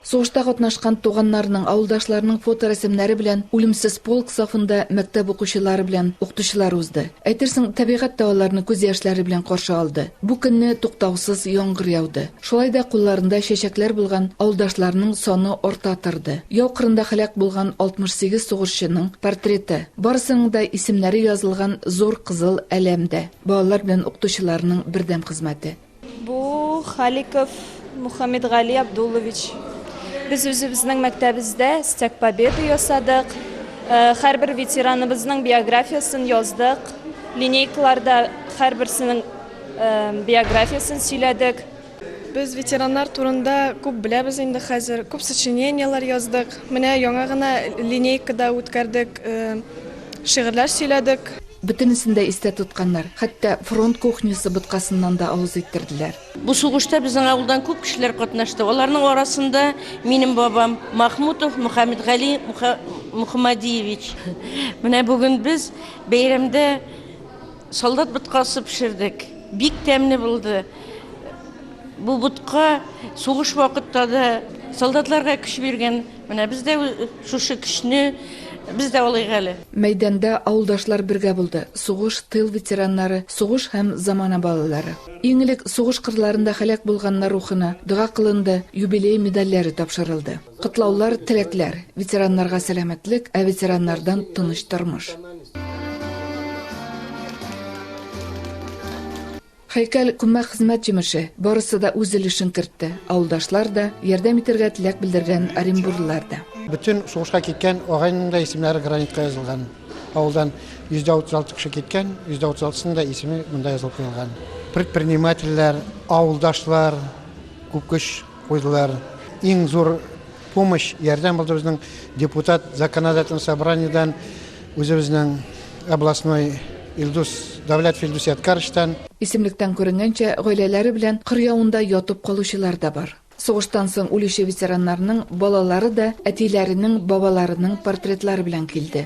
Сугышта катнашкан туганнарның, авылдашларының фоторәсемнәре белән үлемсез полк сафында мәктәп укучылары белән укытучылар узды. Әйтерсең, табигать та аларны күз яшьләре белән каршы алды. Бу көнне туктаусыз яңгыр яуды. Шулай да кулларында чәчәкләр булган авылдашларның саны арта торды. Яу кырында һәлак булган 68 сугышчының портреты, барысының да исемнәре язылган зур кызыл әләм дә. Балалар белән укытучыларның бердәм хезмәте. Бу Халиков Мухаммедгали Абдуллович. Без үзебезнең мәктәбездә Стяг Победы ясадык. Э, һәрбер ветераныбызның биографиясен яздык. Линейкаларда һәрберсенең э, биографиясен сөйләдек. Без ветераннар турында күп беләбез инде хәзер, күп сочинениеләр яздык. Менә яңа гына линейка да үткәрдек, шигырьләр сөйләдек. Бөтенесен дә истә тотканнар, хәтта фронт кухнясы боткасыннан да авыз иттерделәр. Бу сугышта безнең авылдан күп кешеләр катнашты. Аларның арасында минем бабам Махмутов Мөхәммәтгали Мөхәммәдиевич. Менә бүген без бәйрәмдә. Солдат боткасы пешердек. Бик тәмле булды. Бу ботка сугыш вакытта да солдатларга көч биргән. Менә без дә шушы көчне без дә алыйк әле. Мәйданда авылдашлар бергә булды, сугыш, тыл ветераннары, сугыш һәм замана балалары. Иң элек сугыш кырларында һәлак булганнар рухына дога кылынды, юбилей медальләре тапшырылды. Котлаулар, теләкләр. Ветераннарга сәламәтлек, ә ветераннардан тыныч тормыш. Хәйкәл күммәк хезмәт җимеше. Барысы да үз өлешен кертте. Авылдашлар да, ярдәм итәргә теләк белдергән оренбурлылар да. Бөтен сугышка киткән агайның да исемнәре гранитка язылган. Авылдан 136 кеше киткән, 136-сының да исеме монда язылып куелган. Предпринимательләр, авылдашлар күп көч куйдылар. Иң зур помощь, ярдәм булды безнең депутат законодательный собраниедән, үзебезнең областной Илдус Давләтов Илдус Ядкарычтан. Исемлектән күренгәнчә, гаиләләре белән кыр явында ятып калучылар да бар. Сугыштан соң үлүче ветераннарның балалары да әтиләренең, бабаларының портретлары белән килде.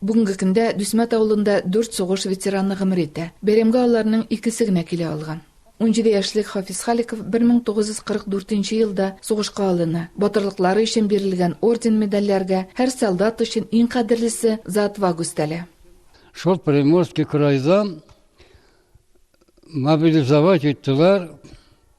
Бүгенге көндә Дүсмәт авылында дүрт сугыш ветераны гомер итә. Бәйрәмгә аларның икесе генә килә алган. Унҗиде яшьлек Хафиз Халиков 1944 елда сугышка алына. Батырлыклары өчен бирелгән орден-медальләргә, һәр солдат өчен иң кадерлесе, За отвагу өстәлә. Шул Приморский крайдан мобилизовать иттеләр.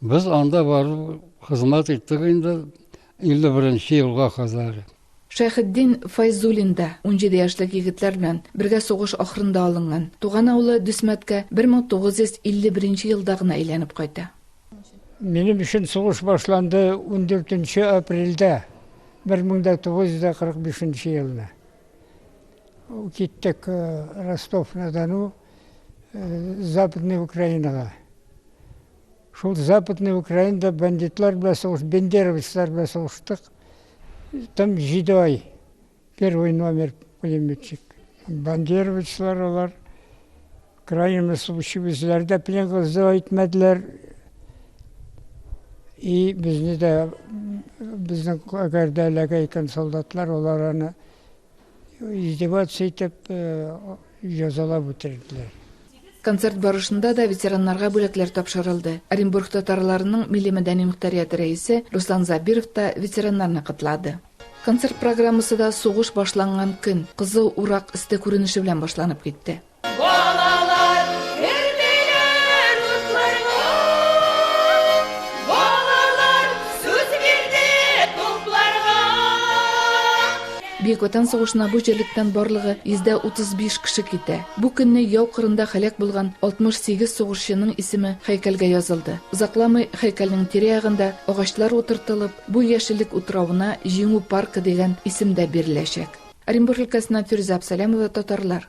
Без анда барып хезмәт иттек инде 51 нче елга кадәр. Шәйхетдин Фәйзуллин да унҗиде яшьлек егетләр белән бергә сугыш ахырында алынган туган авылы Дүсмәткә 1951 нче елда гына әйләнеп кайта. Минем өчен сугыш башланды 14 нче апрельдә 1945 нче елны. Киттек Ростов-на-Дону. Западный Украинага. Шул Западный Украинада бандитлар белән сугыш, бендеровецлар белән сугыштык. Там җиде ай. Первый номер пулеметчик. Бандеровецлар алар крайне случай безләрдә пилен кызды әйтмәделәр. И безне дә безнең кәрдәләгә икән солдатлар, олар аны Издеваться итеп, язалап үтерделәр. Концерт барышында да ветераннарга бүләкләр тапшырылды. Оренбург татарларының милли-мәдәни мөхтәрияте рәисе Руслан Забиров та ветераннарны котлады. Концерт программасы да сугыш башланган көн, кызыл урак өсте күренеше белән башланып китте. Балалар керделәр утларга. Балалар сүз бирде тупларга. Бөек Ватан сугышына бу җирлектән барлыгы 135 кеше китә. Бу көнне яу кырында һәлак булган 68 сугышчының исеме һәйкәлгә язылды. Озакламый һәйкәлнең тирә-ягында агачлар утыртылып, бу яшеллек утравына Җиңү паркы дигән исем дә биреләчәк. Оренбур өлкәсеннән Фирүзә Абсалямова, Татарлар.